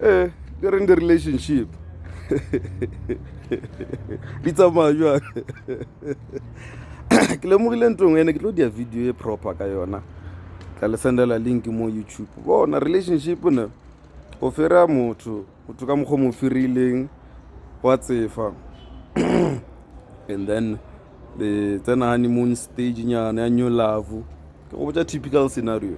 ee di reng di-relationship di tsamaya jang ke lemogile ntong ene ke tlo dia video e proper ka yona tla le sendela link mo youtube bona relationship ne o fira motho motho ka mokgwa mo firileng wa tsefa and then le tsena honeymoon stage nyana ya new love ke go botsa typical scenario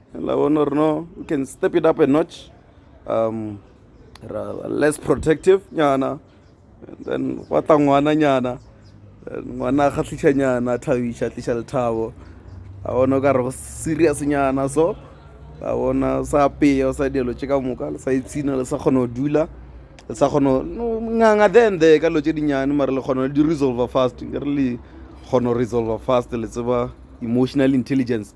la bona gore no we can step it up a notch um ra less protective nyana and then gwa tla ngwana nyana ngwana a kgatlhiša nyana thabiša tliša lethabo a bona o ka re go serious nyana so a bona sa apeya o sa dilo tše ka moka le sa itshina le sa kgona go dula le sa kgona nganga then the ka lo tše dinnyane mare le kgona di resolver fast ke re le kgona go resolver fast le tseba emotional intelligence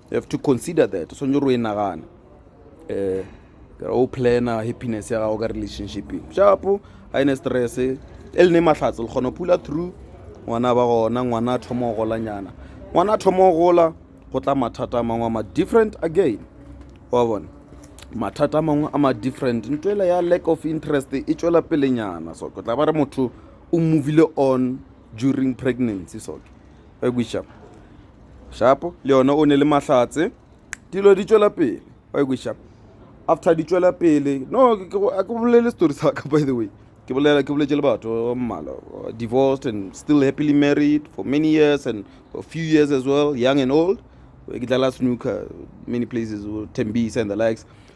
You have to consider that. So nyoro inagana. Eh, kera o plana happiness ya gago ka relationship. Shapo, a ene stress. E le ne mahlatse, le kgona pula through. Ngwana ba gona, ngwana thomo gola nyana. Ngwana thomo gola, go tla mathata mangwe ma different again. Wa bona? Mathata mangwe a ma different. Ntwela ya lack of interest e tšwela pele nyana. So, go tla ba re motho o movile on during pregnancy. So, ba kweša shapo le yona o ne le mahlatse dilo di tšwela pele ba kweša after di tšwela pele no ke bolele story sa ka by the way ke bolela ke boletse le batho ba mmala uh, divorced and still happily married for many years and for a few years as well young and old ke dlala snooker many places tembisa and the likes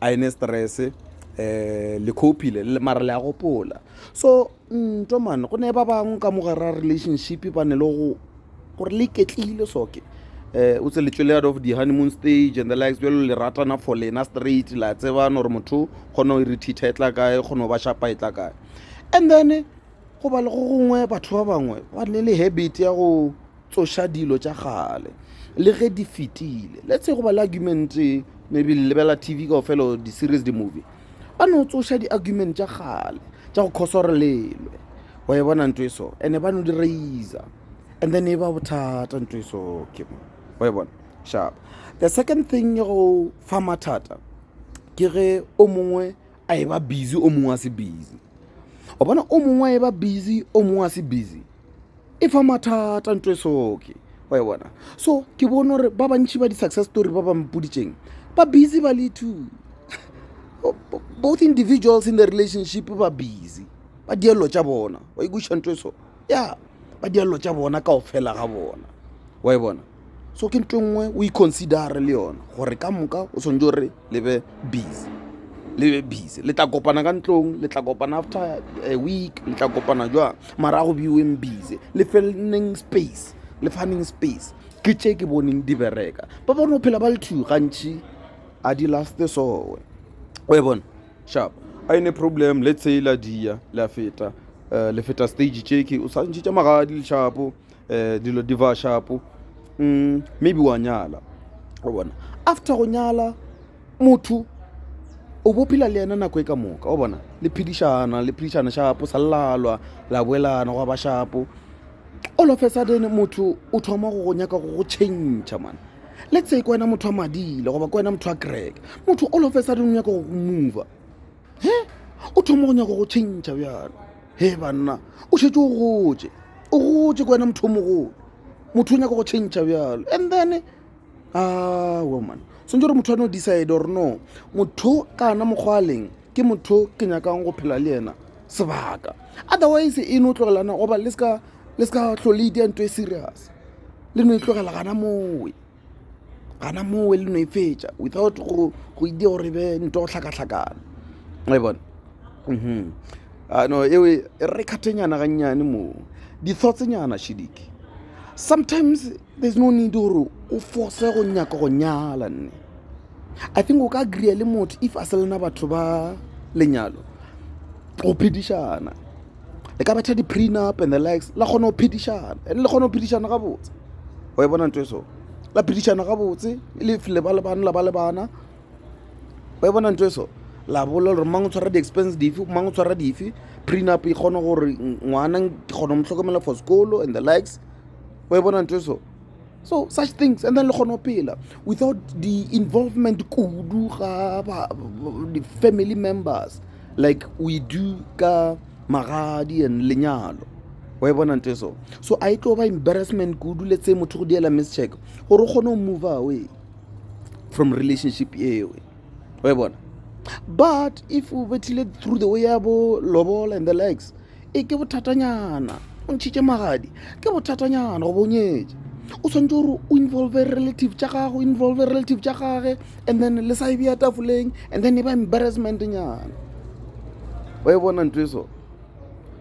a ene stress um le copile mara le a gopola so nto mane go ne ba bangwe ka mogara relationship ba ne le go gore le iketlile soke um o tse letswele out of di-honeymoon stage and the likes bjalo le ratana for lena straight la tsebana gore motho kgona go irithitha e tla kae kgona go ba shapa e tla kae and then go ba le go gongwe batho ba bangwe ba ne le habit ya go tsoša dilo tša kgale le ge di fetile le tsego ba le argument maybe le lebela tv kao fela di-series di-movie ba no tsoša di-argument tša kgale tša go khosa gore lelwe wa e bona ntho e so and-e ba no di raisa and then e ba bothata ntho e so ke wa e bona sharp the second thing ya go fa mathata ke ge o mongwe a e ba busy o mongwe a se busy o bona o mongwe a e ba busy o mongwe a se busy e fa mathata nto e soke wa e bona so ke bone gore ba bantšhi ba di-success story ba ba mpoditseng ba busy ba le two both individuals in the relationship ba busy ba dielo tša bona wa ikuša nto e so ya ba dielo tša bona kao fela ga bona wa e bona so ke nto nngwe o iconsidere le yona gore ka moka o tshwanetse gore le be busy le be busy le tla kopana ka ntlong le tla kopana after a week le tla kopana jwang mara go beweng busy le felneng space le faneng space ke tše ke boneng di bereka ba bone go phela ba le two gantšhi a di laste soe o e bone sharp a ene problem le tshela dia le a feta um le feta stage tšeke o tshwantšhitše magadi leshapo um dilo di ba shapo um maybe wa nyala o bona after go nyala motho o bo phela le yena nako e ka moka o bona le phedišana le phedišana shapo sa lalwa la boelana go ba shapo all of a sudden motho o thoma go go nyaka go go change man let's say ke wena motho wa madile goba ke wena motho wa kereke motho all of a sudden o nyaka go go mova he o thoma go nyako go tšhentšha bjalo he banna o šetse o gotse o gotse ko wena motho o mogolo motho o nyako go tšhentšha bjalo and then a woman swantse gore motho a no decide or no motho kana mokgwa a leng ke motho ke nyakang go phela le yena sebaka otherwise e no tlogelana goba le seka tlhole itea nto e serious le no e tlogela gana mowe gana mowe le no e fetša without go e dia gore be nto go hlakahlakana e bona mhm. ano e re kgathenyana gannyane moo dithotsenyana shidike sometimes there's no need gore o force go nyaka go nyala nne i think o ka agreea le motho if a se lena batho ba lenyalo go phedišana le ka betha di-prenup and the likes la kgona go phedišana and le kgona go phedišana gabotse o e bona nto e so la phedišana gabotse le le ba le bana la ba le bana o e bona nto e so la bolela gore mang o tshwara di-expense dife mang o tshwara dife prenup e kgona gore ngwana ke kgona go mo tlhokomela for sekolo and the likes o e bona nto e so so such things and then le kgone go phela without the involvement kudu ga the family members like we do ka magadi and lenyalo wa e bona nto e so so a e tlo ba embarrassment kudu le tse motho go diela mischeck gore o kgone go move away from relationship ewe wa e bona but if o bethile through the way ya bo lobola and the likes e ke bothatanyana o ntšhitše magadi ke bothatanyana go bonyetša o tshwanetse gore o involve relative tša gago involve relative tša gage and then le sa e bea tafoleng and then e ba embarrassment nyana wa e bona ntho e so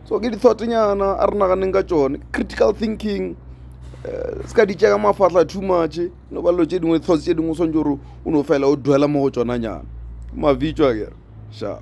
so ke di-thought nyana a re naganeng ka tsone critical thinking Eh, se ka ditša ka mafatlha too much no ba lo tse dingwe tlhots tse dingwe o swantse gore o no fela o duela mo go tsona nyana mavitso a kere shapa